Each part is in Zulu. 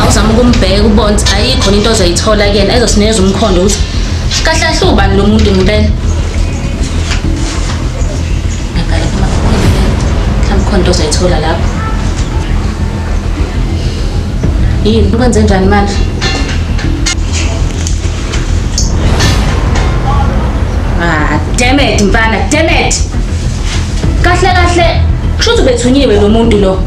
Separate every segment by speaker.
Speaker 1: awuzama
Speaker 2: ukumbheka ubona ukuthi ayikho into ozoyithola kuyena ezosinikeza umkhondo ukuthi kahle kahle ubani lo muntu ngempela ngabhala phama mhlawumbe khona into ozoyithola lapho yini kwenze njani manje ah damn it mfana damn it kahle kahle kusho ukuthi ubethunyiwe lo muntu lo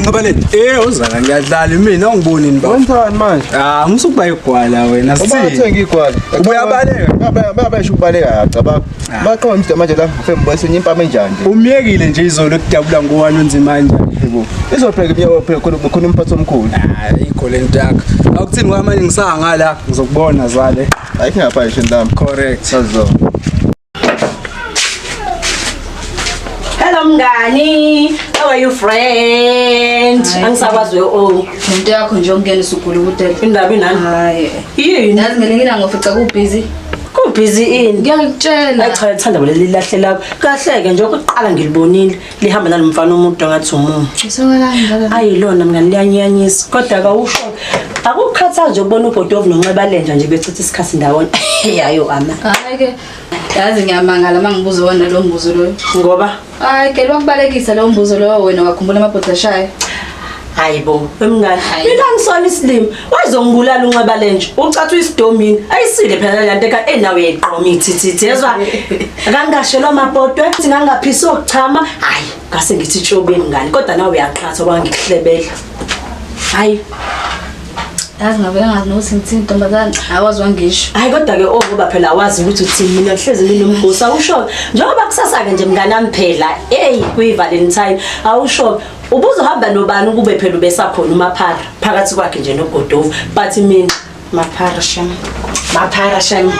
Speaker 3: Nqabaleni. Eh uzala ngiyadlala mina ungiboni ni baba. Wenzani manje? Ah
Speaker 4: ngisukuba igwala
Speaker 3: wena. Uma uthenga igwala.
Speaker 4: Ubuyabaleka.
Speaker 3: Baba baba esho ukubaleka
Speaker 4: cabanga. Ah. Baqonda umdaba manje la ngifembonisa enye impama enjani. Umyekile nje izolo
Speaker 3: kudabula ngowani onzima nje. Yebo. Izobheka
Speaker 4: imiyoko phela khona khona umphathi omkhulu. Hayi ah, igole ntakho.
Speaker 3: Awukuthini kwamanje ngisanga la ngizokubona zale. Ayikho ngapha nje
Speaker 4: ndami. Correct. Sazizona.
Speaker 5: Hello mngani. How are you friend? Angisakwazi o. Into yakho
Speaker 2: nje ongena usugula ukudela. Indaba inani?
Speaker 5: Hayi. Yini?
Speaker 2: Nazi ngene
Speaker 5: ngina ngofica
Speaker 2: ku busy. Ku busy
Speaker 5: ini? Ngiyakutshela. Ayi cha
Speaker 2: ngithanda leli
Speaker 5: lahle lakho. Kahleke nje ukuqala ngilibonile. lihamba nalo mfana omuntu ngathi umumu
Speaker 2: ayilona mngani
Speaker 5: liyanyanyisa kodwa kawusho akukukhathaza nje ukubona ubhodi ovunonxeba lenja nje bechitha isikhathi ndawonye yayo ama hayi-ke
Speaker 2: yazi ngiyamangala uma ngibuza wona lo mbuzo loyo ngoba hayi
Speaker 5: ke
Speaker 2: lwakubalekisa lowo mbuzo loyo wena wakhumbula amabhodashayo hayi bo
Speaker 5: emngane mina ngisona isilima wazongibulala unxeba lenje ucathi uyisidomini ayisile phela le nto eka enawe yayiqoma ithithithi yezwa kangashelwa amabhodwe ukuthi ngangaphisa okuchama hayi ngase ngithi tshobeni ngani kodwa nawe uyaqhatha kwangikuhlebela hayi
Speaker 2: yazi ngabe engazi nokuthi ngithini ntombazane awazi wangisho hayi kodwa-ke o oh, ngoba
Speaker 5: phela awazi ukuthi uthini mina kuhlezi nginomgosi awusho-ke njengoba kusasa-ke nje mnganami phela eyi kuyi-valentine awusho-ke ubuzohamba nobani ukube phela ubesakhona umaphara phakathi kwakhe nje nogodovu but mina maphara shem maphara shem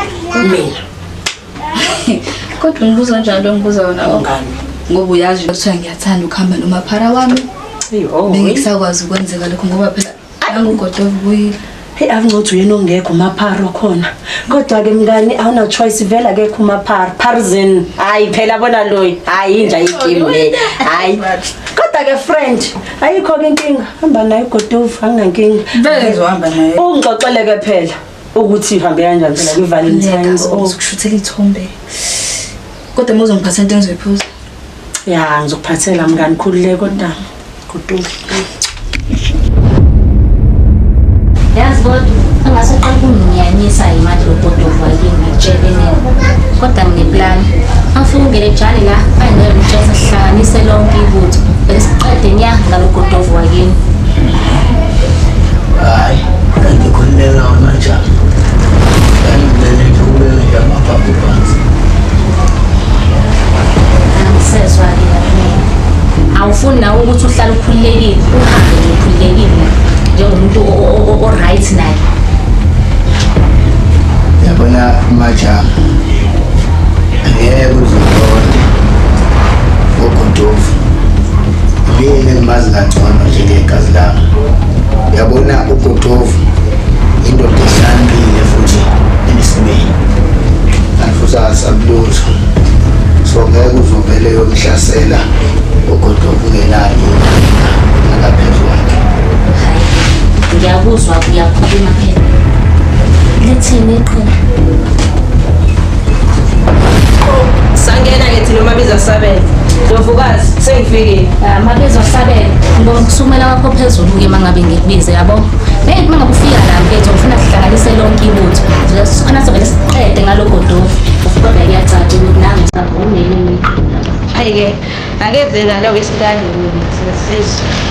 Speaker 5: mina
Speaker 2: kodwa ngibuza njalo ngibuza wona ongani ngoba
Speaker 5: uyazi
Speaker 2: ukuthi ngiyathanda ukuhamba nomaphara wami bengisakwazi ukwenzeka lokho ngoba phela Angugodo ubuyile. Hey akuncothi uyena
Speaker 5: ongekho umapharo khona. Kodwa ke mngani awuna choice vela ke kumapharo. Parzin. Hayi phela bona loyi. Hayi inja igame le. Hayi. Kodwa ke friend ayikho ke inkinga. Hamba naye ugodovu anginankinga. Vele ngizohamba
Speaker 2: naye. Ungixoxele ke phela.
Speaker 5: ukuthi ihambe kanjani phela kwi-valentines oh. uzokushuthela ithombe
Speaker 2: kodwa uma uzongiphatha into engizoyiphuza ya
Speaker 5: ngizokuphathela mngani khulule kodwa kutuka
Speaker 2: yazi kodwa angase qala ukunginyanyisa yimali logodova yini ngitshele nini kodwa ngineplani angifuna ungene jali la angeke ngitshela sihlanganise lonke ibutho besiqede nya ngalogodova wakini
Speaker 1: hayi ngikhululeka amajama ngangibulele nje ukubeka nje amaphaphu phansi
Speaker 2: angisezwa-ke yamina awufuni nawe ukuthi uhlale ukhululekile uhambe nje ukhululekile njengomuntu o- o- o- o-right naye
Speaker 1: yabona amajama angeke uzoqonda uguduva Mina ngimazi kangcono njengegazi lami. Uyabona uGodovu indoda ehlangile futhi enesimeni. Angifusasa kulutho. So ngeke uzovele yomhlasela uGodovu ngenani akaphezu kwakhe. Ngiyakuzwa
Speaker 2: uyakhuluma phela. Lithini iqhinga?
Speaker 5: sangena ngithi noma biza sabele ndovukazi sengifikile ah, mabizo
Speaker 2: sabele ngibona ukusumela kwakho phezulu ke mangabe ngikubize yabo hey mangabe ufika la mfethu ngifuna sihlanganise lonke ibutho sikhona sivele siqede ngalogo dofu kodwa kuyacaca ukuthi nami ngisavumile ngiqina ayike akezeka lokho esikanye sesizwe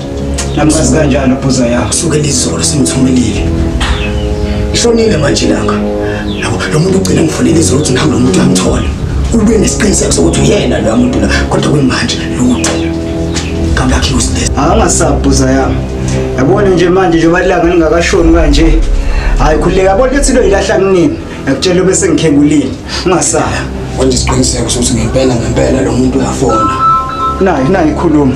Speaker 1: Namazi kanjalo bhuza yakho. Kusuke lizolo simthumelile. Ishonile manje langa. Yabo lo muntu ugcina ngifonela izolo ukuthi ngihambe nomuntu uyamthola. Ube nesiqiniseko sokuthi uyena lo muntu la kodwa kwimanje lutho. Kamlakhi usilesa. Angasabhuza yami.
Speaker 6: Yabona nje manje njengoba langa lingakashoni kanje. Hayi khuleka yabona ukuthi lo ilahla kunini. Ngakutshela bese ngikhebulile. Ungasaya. Wenza isiqiniseko
Speaker 1: sokuthi ngempela ngempela lo muntu uyafona. Nayi nayi
Speaker 6: khuluma.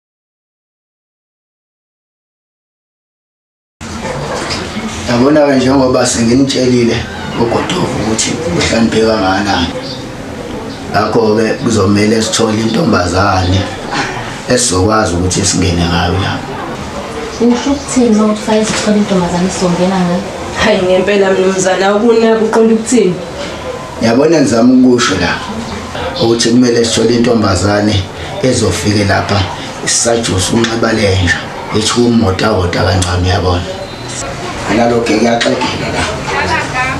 Speaker 1: Yabona-ke njengoba senginitshelile ugodovu ukuthi uhlanipheka kangakanani ngakho-ke kuzomele sithole intombazane esizokwazi ukuthi singene ngayo lapho usho
Speaker 2: ukuthini uma uthi fanele sithole intombazane esizongena ngayo hayi ngempela
Speaker 5: mnumzana ukuna kuqonda ukuthini Yabona
Speaker 1: ngizama ukusho la ukuthi kumele sithole intombazane ezofike lapha isajusa unxiba lenja ethi kumota wota kancane uyabona. Analoke kuyaxegela la.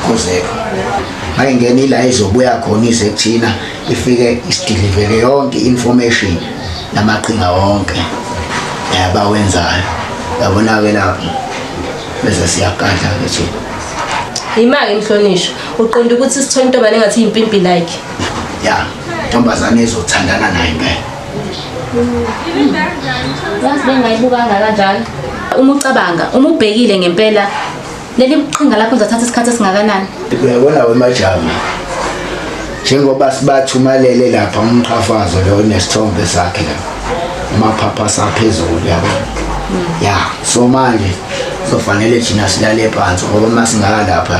Speaker 1: Kuzeka. Hayi ngene ila izobuya khona ize kuthina ifike isidilivele yonke information namaqhinga wonke yabawenzayo. Yabona ke lapho bese siyagadla ke thina. Yimake
Speaker 5: mhlonishwa. uqonda ukuthi sithole intombane engathi yimpimpi like ya
Speaker 1: ntombazane ezothandana naye impela yazi
Speaker 2: bengayibukanga kanjalo uma ucabanga uma ubhekile ngempela leli qhinga lakho uzathatha isikhathi esingakanani uyabona
Speaker 1: wemajama njengoba sibathumalele lapha umqhafazo lo nesithombe sakhe la amaphapha saphezulu yabo ya so manje sofanele thina silale phansi ngoba masingakalapha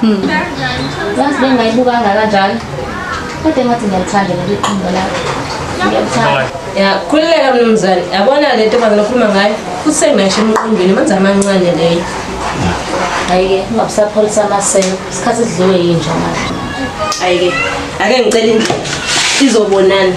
Speaker 2: Hmm. Yazi bengayibuka kanjalo. Kodwa ngathi ngiyalithanda leli qembu lakho. Ngiyalithanda. Ya, khululeka
Speaker 5: mnumzane. Yabona le ntombazana okhuluma ngayo, usengasho emqondweni, manzi amancane leyo.
Speaker 2: Ayike, ungabusapholisa amaselo. Isikhathi sidliwe yinja manje. Ayike.
Speaker 5: Ake ngicela indlela. Izobonana.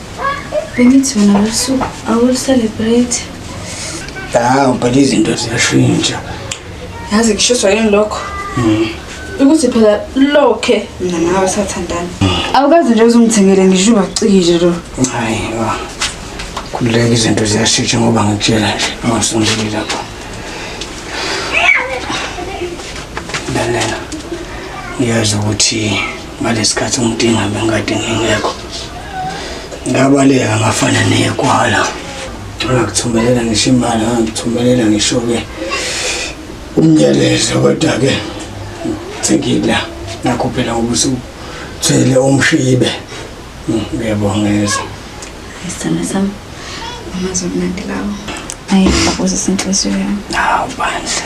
Speaker 7: bengithi wena losuku awuluselebrate
Speaker 1: hawu phela izinto ziyashintsha yazi
Speaker 7: kushiswa yini lokho hmm. ukuthi phela lokhe mina nawe sathandana awukazi nje uzungithengele ngisho ubacikile lo hayi
Speaker 1: khululeka izinto ziyashintsha ngoba ngikutshela nje ungasondeli lapho lalela ngiyazi ukuthi ngalesikhathi ngidinga bengikade ngingekho ngabaleka ngafana nekwala ngakuthumelela ngisho imali ngakuthumelela ngisho-ke umnyelezo kodwa-ke sengila nakho phela ngoba usuthwele umshibe hmm, ngiyabongeza isithanda
Speaker 7: sami amazwi mnandi lawo ayi bakuze senhliziyo yami hawu bandla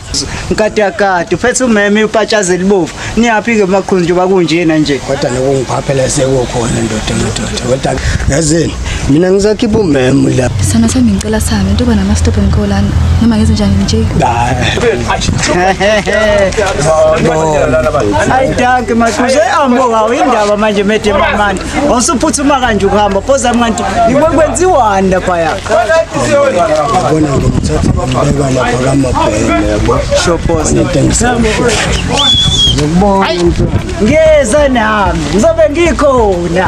Speaker 6: nkadakade uphethe umeme upatshaza elibovu niyaphi-ke makhulu njengoba kunjena nje kodwa nokungiphaphela
Speaker 1: sekukhona ndoda madoda kodwa yazini mina ngisakhipha umeme la sana sami ngicela sami
Speaker 7: into yoba nama-stop emkolana noma ngenze njani nje ayi
Speaker 6: danke makhulu seambokawo indaba manje mede mamani Awusuphuthuma kanje ukuhamba phoza mnganti yiwe kwenziwani lapha ya.
Speaker 1: Bona ngimthatha ngibeka lapha kamabhele yabo. Sho phoza. Ngibona into.
Speaker 6: Ngiyeza nami. Ngizobe ngikhona.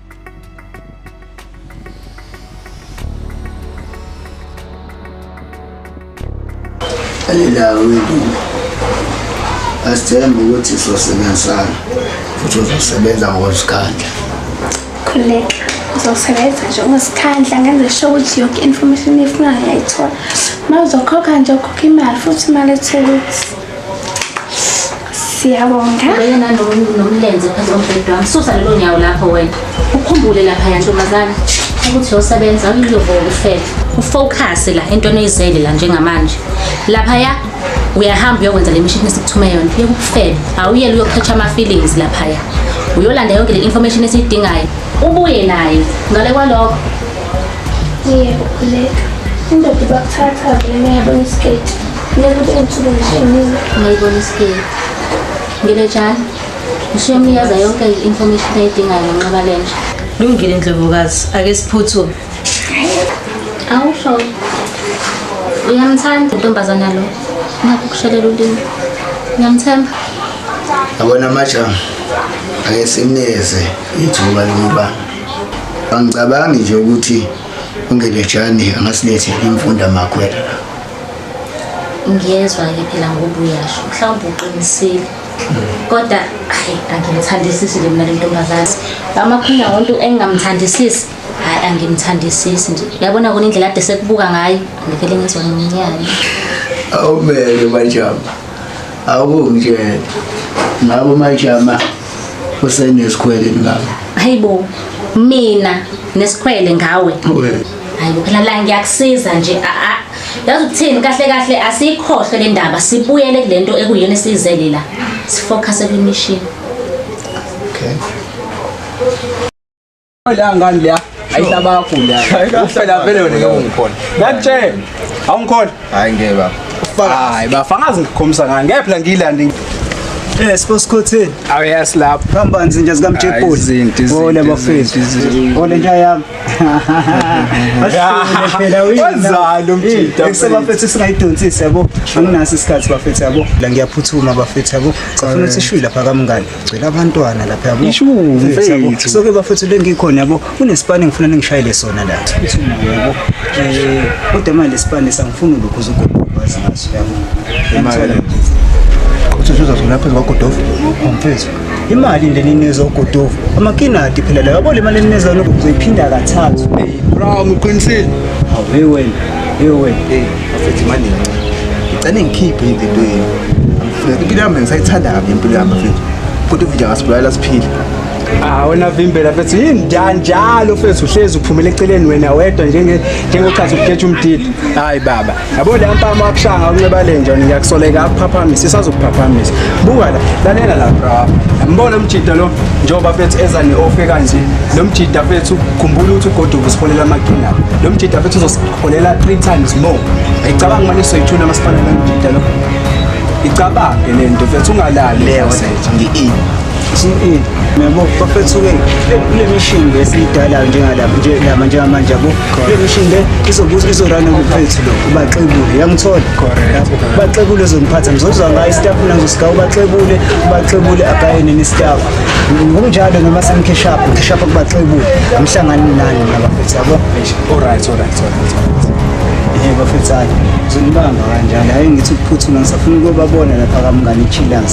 Speaker 1: Alilanga wendile asithembe ukuthi sizosebenzisana futhi uzosebenza ngokuzikhandla
Speaker 8: khuleka uzosebenza nje ungazikhandla ngenze sho ukuthi yonke information efunayo uyayithola uma uzokhokha nje ukhokha imali futhi imali ethukuthi siyabonga wena nomlenze
Speaker 2: phezu kombhedi wami susa lelo nyawo lapho wena ukhumbule lapha yantombazana ukuthi yosebenza awuyilobona ufele ufocuse la entweni oyizele la njengamanje laphaya uyahamba uyokwenza le mishini esikuthume yona yeke ukufele awuyele uyoqhetsha ama-feelings laphaya uyolanda yonke le information esiyidingayo ubuye naye ngale kwalokho
Speaker 8: yebo khuleka indoda ibakuthatha vele nayabona isiketi Ngiyayibona isikili.
Speaker 2: Ngilejani? Ngisho yomnikeza yonke i-information ayidingayo ngenqaba lenja. Lungile ndlovukazi,
Speaker 5: ake siphuthume.
Speaker 2: Awusho. Uyamthanda intombazana lo. Nakho kushelela ulimi. Ngiyamthemba.
Speaker 1: Yabona majama. Ake simneze ithuba lokuba angicabangi nje ukuthi ungelejani angasilethe imfunda makhwela.
Speaker 2: ngiyezwa-ke phela ngoba uyasho mhlawumbe uqinisile kodwa hayi angimthandisisi nje mina lentombazane amakhona wontu engingamthandisisi hayi angimthandisisi nje yabona kona indlela ade sekubuka ngayo ngivele ngizwa nginyane awumele
Speaker 1: majama awukungitshela ngabo majama usenesikhwele ngabo hayibo
Speaker 2: mina nesikhwele ngawe hayi bo phela la ngiyakusiza nje a a yazi ukuthini kahle kahle asikhohlwe le ndaba sibuyele kule nto ekuyona esiyizele la sifocuse kwimishini
Speaker 3: okay la ngani leya ayihlaba kakhulu leya ufela vele wena ngeke ungikhona ngakutshela awungikhona hayi ngeke
Speaker 4: baba hayi bafakazi
Speaker 3: ngikhombisa ngani ngeke phela ngiyilande Eh
Speaker 6: siposikhotheni. Awuyas lapho.
Speaker 3: Hamba nzinja
Speaker 6: zikaMjepoli. Ole bafethu. Ole nja yami. wenzani
Speaker 3: umjita sebafethu esingayidonsisi
Speaker 6: yabo anginaso isikhathi bafethu yabo la ngiyaphuthuma bafethu yabo safuna ukuthi ishwi lapha kamngane gcwele abantwana lapha yabo ishumfethu
Speaker 3: soke bafethu le
Speaker 6: ngikhona yabo kunesipani ngifuna ningishayele sona la phuthuma yabo eh kodwa manje lesipani sangifuna lokho uzogubhaza ngaso yabo
Speaker 4: imali uthi uzozola phezu kwagodofu umfethu
Speaker 6: imali nje ninizwa ugodovu amakinati phela layo yabona imali eninizwa lokhu uzoyiphinda kathathu bro
Speaker 3: ngiqinisile awuye wena
Speaker 6: hey wena hey
Speaker 4: afethe imali ngicane ngikhiphe into yenu angifuna impilo yami ngisayithanda kabi impilo yami afethe kodwa nje ngasibulala siphile Ah wena
Speaker 3: vimbela mfethu yini njalo mfethu uhlezi uphumela eceleni wena wedwa njenge njengochaza ukukhetha umdidi. Hayi baba. yabo le ampama akushanga unceba lenja ngiyakusoleka akuphaphamisa isazokuphaphamisa buka la lalela la bra yambona umjida lo njengoba fethu eza ne-ofe kanje lo mjida fethu khumbula ukuthi ugoduka usiholela amaqhinga lo mjida fethu uzosiholela three times more ayicabanga mane soyithuna masifanele umjida lo icabange le nto fethu ungalali leyo ngi-e
Speaker 4: GE
Speaker 6: nabo bafethu ke kule mission le siyidala njengalapha nje lama njengamanje yabo kule mission le izobuza izorana ngomfethu lo ubaxebule yangithola lapho baxebule zomphatha ngizozwa ngayo staff nazo sika ubaxebule ubaxebule akayene ni staff ngokunjalo noma semkheshapha ngishapha kubaxebule umhlangani nani nabafethu yabo alright alright
Speaker 3: alright eh
Speaker 6: bafethu zonibamba kanjani hayi ngithi ukuphuthuma ngisafuna ukubabona lapha kamngane ichilas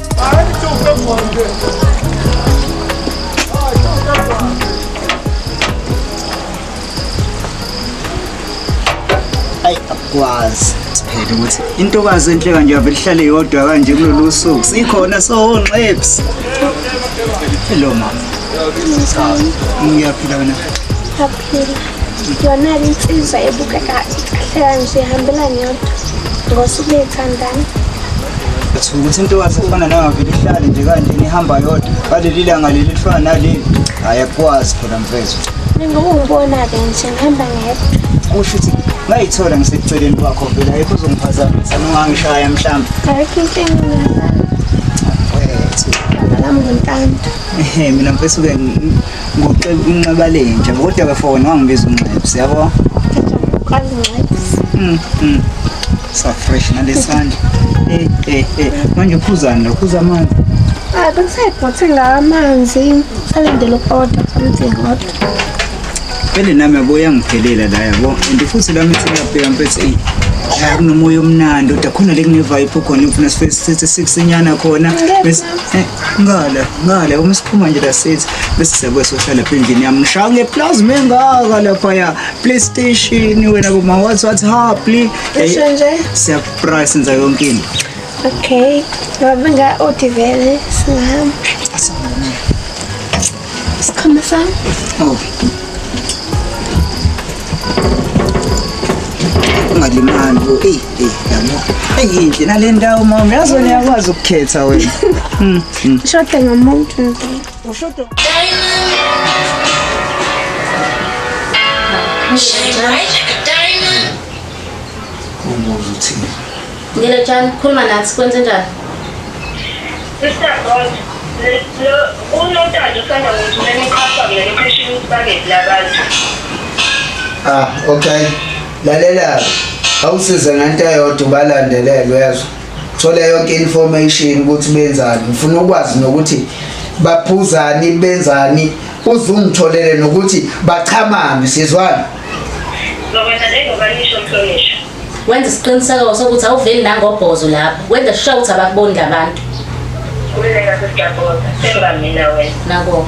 Speaker 6: ayi akwazi siphele ukuthi intokazi enhle kanje yavele ihlale yodwa kanje kulolu suku sikhona sonxeps hello mama ngiyaphila wena
Speaker 8: yona insizwa ebukeka ikhahlela nje ihambelane yodwa ngosuku beyithandana Uthuka
Speaker 6: ukuthi intokazi efana nayo ngavele ihlale nje kanje nihamba yodwa ngaleli langa leli lifana naleli hhayi akukwazi phela mfethu njengoba ungibona-ke
Speaker 8: nje ngihamba ngedwa kusho ukuthi
Speaker 6: ngayithola ngiseceleni kwakho vele ayikho uzongiphazamisa nongangishaya mhlawumbe ayikho
Speaker 8: inkinga ngiyazana wethu lami ngintanda mina
Speaker 6: mfethu-ke Unxiba lenja kodwa ke for wena wangibiza unxebs yabo. Unxebs. Mm. mm. Sa fresh na lesandla. Eh eh eh manje uphuzani lo phuza amanzi. Ah bengisayibhothe
Speaker 8: la amanzi salindele uku-order something kodwa. Phele
Speaker 6: nami yabo yangiphelela la yabo and futhi lami siyabheka mfethu eyi la kunomoya omnandi kodwa khona le kune-vibe khona ufuna sife sithi sikusinyana khona bese eh, ngale ngale uma siphuma nje lasithi bese siyakwesosha lapha endlini yami ngishaya ngeplazi mengaka laphaya playstation wena boma wathi wathi ha please Ngisho nje.
Speaker 8: siyaprice
Speaker 6: senza yonke into Okay.
Speaker 8: Ngoba nga odivele sihamba. Asibone. Sikhona sami. Oh.
Speaker 6: Ungalimali bo. Ey, ey, yabo. Eyinhle nale ndawo mama. Yazi wena yakwazi ukukhetha wena. Hmm. hmm. Ushoda
Speaker 8: ngomuntu. Ushoda. Shine bright
Speaker 6: like a
Speaker 2: diamond. Umuzi uthini? Ngile Jan, khuluma nathi kwenze njani?
Speaker 9: Sister Bond, lo unontando usanda ngithumela
Speaker 1: iqhafa mina location ukuthi bakethi labantu. Ah, okay. Lalela. Awusize ngento eyodwa ubalandelele uyezwa. Thola yonke information ukuthi benzani. Ngifuna ukwazi nokuthi baphuzani benzani uzungitholele nokuthi bachamani sizwana. Ngoba
Speaker 9: nje ngoba nisho mhlonishwa. Wenza isiqiniseko
Speaker 2: sokuthi awuveli nangobhozo lapho. Wenza sure ukuthi abakuboni labantu. Kuleka
Speaker 9: sesiyaboza. Seba mina wena. Nako.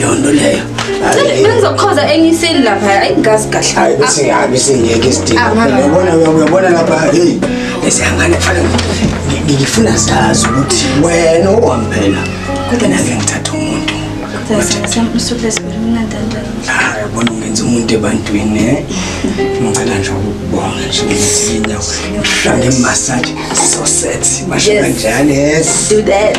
Speaker 1: yonto leyo bengizokhoza
Speaker 7: enye isini lapha ayi ngazi kahle hayi bese ngihambe
Speaker 1: sengiyeke isidingo uyabona uyabona lapha hey esihangane fana ngifuna sazi ukuthi wena owamphela kodwa nake ngithatha umuntu yabona ungenza umuntu ebantwini eh? ngicela nje ukubonga nje ukuthi inyawo ngihlange massage so set basho kanjani yes do that